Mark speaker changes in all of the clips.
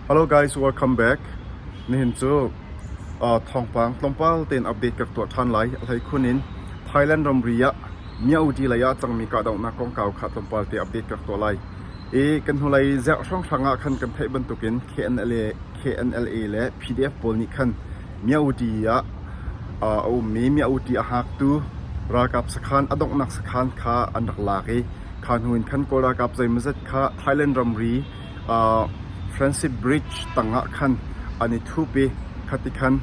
Speaker 1: Hello guys, welcome back. Nihin cu thawngpang tlawmpal tein update ka tuah ṭhan lai. A hleikhun in Thailand ramri ah Myaudi lei ah cangmi kahdohnak kongkau kha tlawmpal te update ka tuah lai. I kan hnulei ziah hrawnghrang ah khan kan theih bantukin KNLA, KNLA le PDF pawl nih khan Myaudi ah a ummi Myaudi a hngaktu ralkap sakhan a donghnak sakhan kha an rak lak i kha hnu in khan Kawl ralkap zeimawzat kha Thailand ramri Francis Bridge tangah khan an i thup i khati khan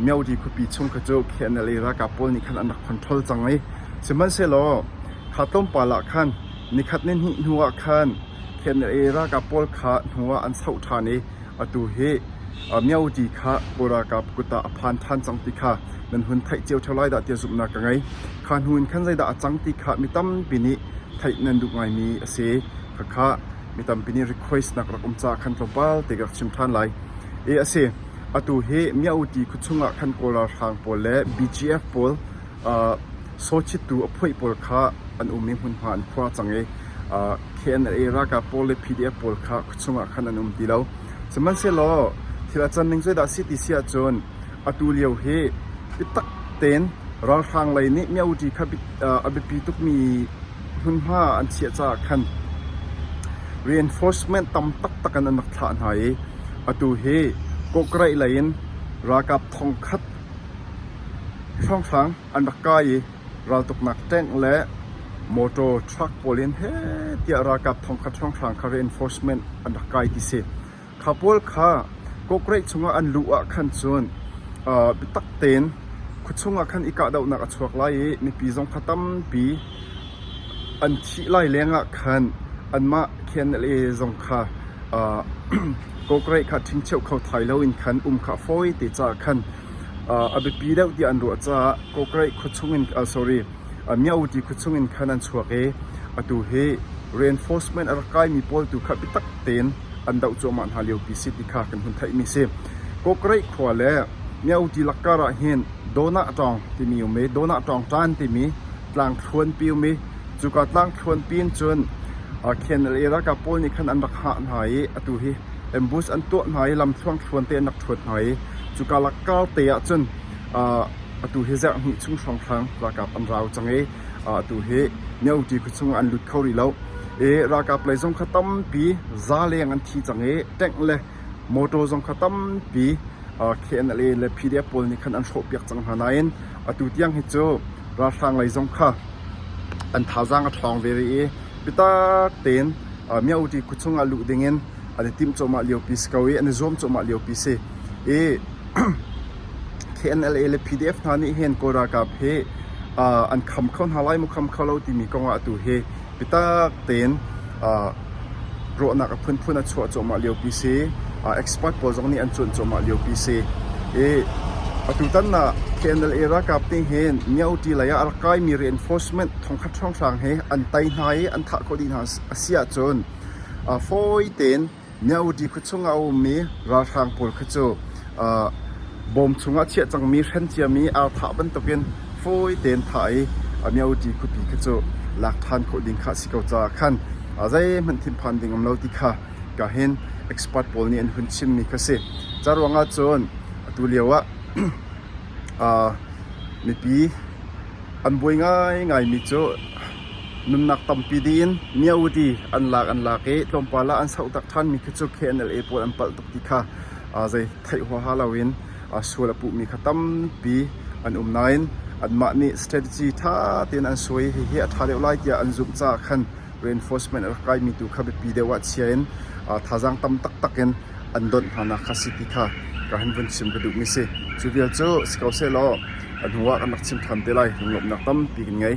Speaker 1: Myaudi khuapi chung kha cu KNLA ralkap pawl nih khan an rak control cang i sihmanhsehlaw kha tlawmpal ah khan nikhat ni hnih hnuah khan KNLA ralkap pawl kha hnu ah an soh ṭhan i Atu hi Myotti kha Kawl ralkap kut ah a phan ṭhan cang ti kha nan hun theih cio ṭheo lai dah tia zumhnak ka ngei. Kha hnu in khan zeidah a cang ti kha mi tampi nih theih nan duh ngaimi a si. Khakha mi tampi nih request nak rak um caah khan tlawmpal te ka rak chim ṭhan lai. E a si, atu hi Myotti khuachung ah khan Kawl ralhrang pawl le BGF pawl Sawchittu a phoih pawl kha an um i hmunhma an khua cang i KNLA ralkap pawl le PDF pawl kha khuachung ah khan an um ti lo. Sihmanhsehlaw thil a can ning zeidah a si ti si ahcun atu lio hi biatak tein ralhrang lei nih Myoṭi kha a biapi tukmi hmunhma an chiah caah khan reinforcement tam taktak in an rak thlah hna i atu hi Kawkreih lei in ralkap thong khat Hranghrang an rak kai i raltuknak tank le motor truck pawl in heh tiah ralkap thongkhat hranghrang kha reinforcement an rak kai ti si. Kha pawl kha kawkreih chungah an luh ah khan cun aa biatak tein khua chungah khan i kahdohnak a chuak lai i mipi zong kha tampi an thih lai lengah khan anmah KNLA zong kha aa kawkreih kha ṭhingcheuh kho thai loin khan um kha a fawi te caah khan A biapi deuh tiah an ruah caah Kokreih khuachung in Myaukyi khuachung in khan an chuak i atu hi reinforcement a rak kaimi pawl tu kha biatak tein an doh cuahmah hna liopi si ti kha kan hun theihmi a si. Kokreih khua le Myaukyi lakkar ahhin Donah Ṭawng timi um i Donah Ṭawng ṭan timi tlangthluanpi um i cuka tlangthluanpi in cun KNLA ralkap pawl nih khan an rak hah hna i atu hi ambush an tuah hna i lam thluangthluan te an rak thuat hna i Cuka lakkar te ah cun atu hi zarh hnih chung hrawnghrang ralkap an rau cang i atu hi Myoti khuachung ah an lut kho rih lo. I ralkap lei zong kha tampi zaleng an thi cang i tank le motor zong kha tampi KNLA le PDF pawl nih khan an hrawhpiak cang hna nain atu tiang hi cu ralhrang lei zong kha an thazaang a ṭhawng ve rih i bitak tein Myoti khuachung ah luh ding in an i timh cuahmah liopi si ko i an i zuam cuahmah liopi si i KNLA le PDF hna nih hin Kawl ralkap hi uh, an kham kho hna lai mu kham kho lo timi kongah atu hi bitak tein uh, ruahnak a phunphun a chuah cuahmah liopi si uh, expert pawl zong nih an cuan cuahmah liopi si i atu tan na KNLA ralkap ning hin Myoti lei ah a rak kaimi reinforcement thongkhat hranghrang hi an tai hna i an thah khawh dih hna a si ahcun A fawi tein Myaudi khua chung ah a um i ralhrang pawl kha cu bawm chung ah chiah cangmi hren ciam i ar thah bantuk in fawi tein thah i a Myaudi khuapi kha cu lak ṭhan khawh ding kha a si ko caah khan zeihmanh thinphan ding a um lo ti kha ka hin expert pawl nih an hun chimmi kha a si. Cu ruangah cun atu lio ah mipi an buai ngaingaimi cu Nunnak tampi ding in Myahudi an lak an lak i tlawmpal ah an sohtak ṭhanmi khi cu KNLA pawl an palh tuk ti kha zei theih huaha loin sual a puhmi kha tampi an um nain anmah nih strategy ṭha tein an suai hihi a ṭha deuh lai tiah an zumh caah khan reinforcement a rak kaimi tu kha biapi deuh ah chia in thazaang tam taktak in an donh hnanak kha si ti kha ka han vun chim ka duhmi si. Cu vial cu si ko sehlaw a hnu ah kan rak chim ṭhan te lai lunglawmhnak tampi kan ngei.